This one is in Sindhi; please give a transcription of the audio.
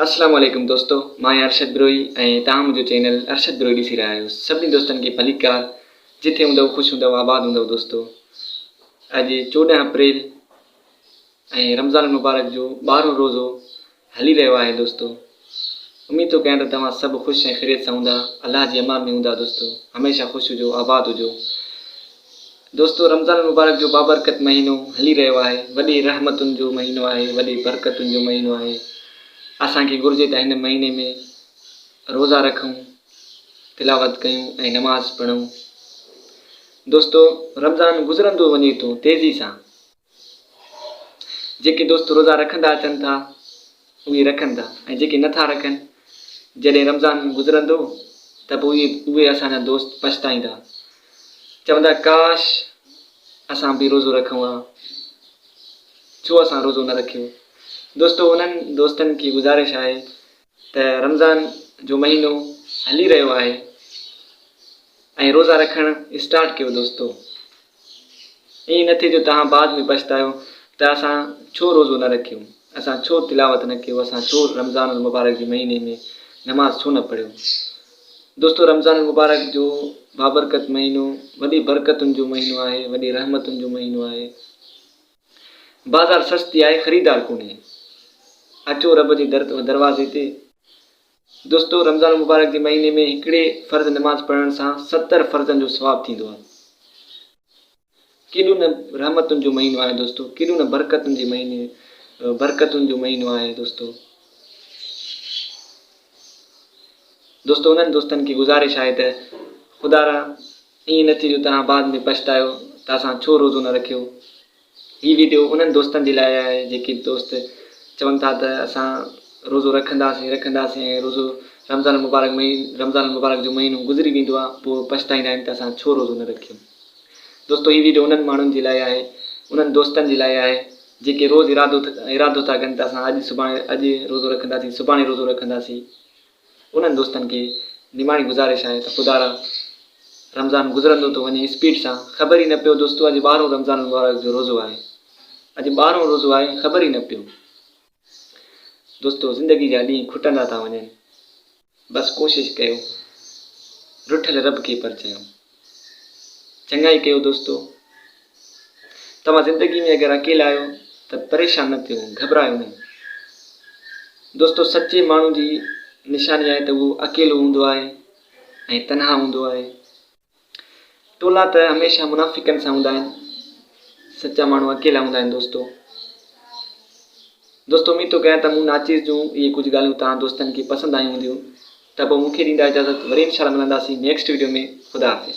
اسلام عليڪم دوستو مان آهيان ارشد بروهي ۽ توهان منهنجو چينل ارشد بروهي ڏسي رهيا آهيو سڀني دوستن کي ڀليڪار جتي هوندؤ خوش هوندؤ آباد هوندؤ دوستو اڄ چوڏهن اپريل ۽ رمضان المبارڪ جو ٻارهون روزو هلي رهيو آهي دوستو اميد ٿو ڪيان ته توهان سڀ خوش ۽ خيريت سان هوندا الله جي امان ۾ هوندا دوستو هميشه خوش هجو آباد هجو دوستو رمضان المبارڪ جو بابرڪت مهينو هلي رهيو آهي وڏي رحمتن جو مهينو آهي وڏي برڪتن جو مهينو آهي اسان کي گهرجي ته هن مهيني ۾ روزا رکون تلاوت ڪيون ۽ نماز پڙهون دوستو رمضان گذرندو وڃي ٿو تيزي سان جيڪي دوست روزا رکندا اچن ٿا اهي رکن ٿا ۽ جيڪي نه ٿا رکن جڏهن رمضان گذرندو ته پوء اهي اسان جا دوست پڇتائيندا چوندا ڪاش اسان به روزو رکون ها ڇو اسان روزو نه رکيو دوستو انهن دوستن کي گذارش آهي ته رمضان جو مهينو هلي رهيو آهي ۽ روزا رکڻ اسٽارٽ ڪيو دوستو ائين نه ٿئي جو توهان بعد ۾ پڇتايو ته اسان ڇو روزو نه رکيو اسان ڇو تلاوت نه ڪيو اسان ڇو رمضان المبارڪ جي مهيني ۾ نماز ڇو نه پڙهيو دوستو رمضان المبارڪ جو بابرڪت مهينو وڏي برڪتن جو مهينو آهي وڏي رحمتن جو مهينو آهي بازار سستي آهي خريدار ڪونهي اچو رب جي در دروازي تي. دوستو رمضان المبارڪ جي مهيني ۾ هڪڙي فرض نماز پڙهڻ سان ستر فرضن جو ثواب ٿيندو آهي ڪيڏو نه رحمتن جو مهينو آهي دوستو ڪيڏو نه برڪتن جي مهيني برڪتن جو مهينو آهي دوستو دوستو انهن دوستن کي گزارش آهي ته خدا را ائين نه ٿئي جو توهان بعد ۾ پڇتايو ته اسان ڇو روزو نه رکيو. هي وڊيو انهن دوستن جي لاء آهي جيڪي دوست چون ٿا ته اسان روزو رکنداسين ئي رکنداسين ۽ روزو رمضان المبارڪ ۾ ئي رمضان المبارڪ جو مهينو گذري ويندو آهي پوء پڇتائيندا آهن ته اسان ڇو روزو نه رکيو. دوستو هي وڊيو انهن ماڻهن جي لاء آهي انهن دوستن جي لاء آهي جيڪي روز ارادو ارادو ٿا ڪن ته اسان اڄ سڀاڻي اڄ روزو رکنداسين سڀاڻي روزو رکنداسين. انهن دوستن کي نماڻي گذارش آهي ته خدارا رمضان گذرندو ٿو وڃي اسپيڊ سان خبر ئي نه پيو دوستو اڄ ٻارهون رمضان المبارڪ جو روزو آهي اڄ ٻارهون روزو آهي خبر ئي نه پيو دوستو زندگي جا ڏينهن کٽندا ٿا وڃن بس ڪوشش ڪيو رٺل رب کي پرچايو چڱائي ڪيو دوستو. توهان زندگي ۾ اگر اڪيلا آهيو ته پريشان نه ٿيو، گهٻرايو نه. دوستو سچي ماڻهو جي نشاني آهي ته اهو اڪيلو هوندو آهي ۽ تنها هوندو آهي. ٽولا ته هميشه منافقن سان هوندا آهن، سچا ماڻهو اڪيلا هوندا آهن دوستو. دوستو اميد ٿو ڪيان ته مون ناچيز جون اهي ڪجهه ڳالهيون توهان دوستن کي پسند آيون هونديون. ته پوء مون کي ڏيندا اجازت وري انشاء الله ملنداسين نيڪسٽ ويڊيو ۾ خدا حافظ.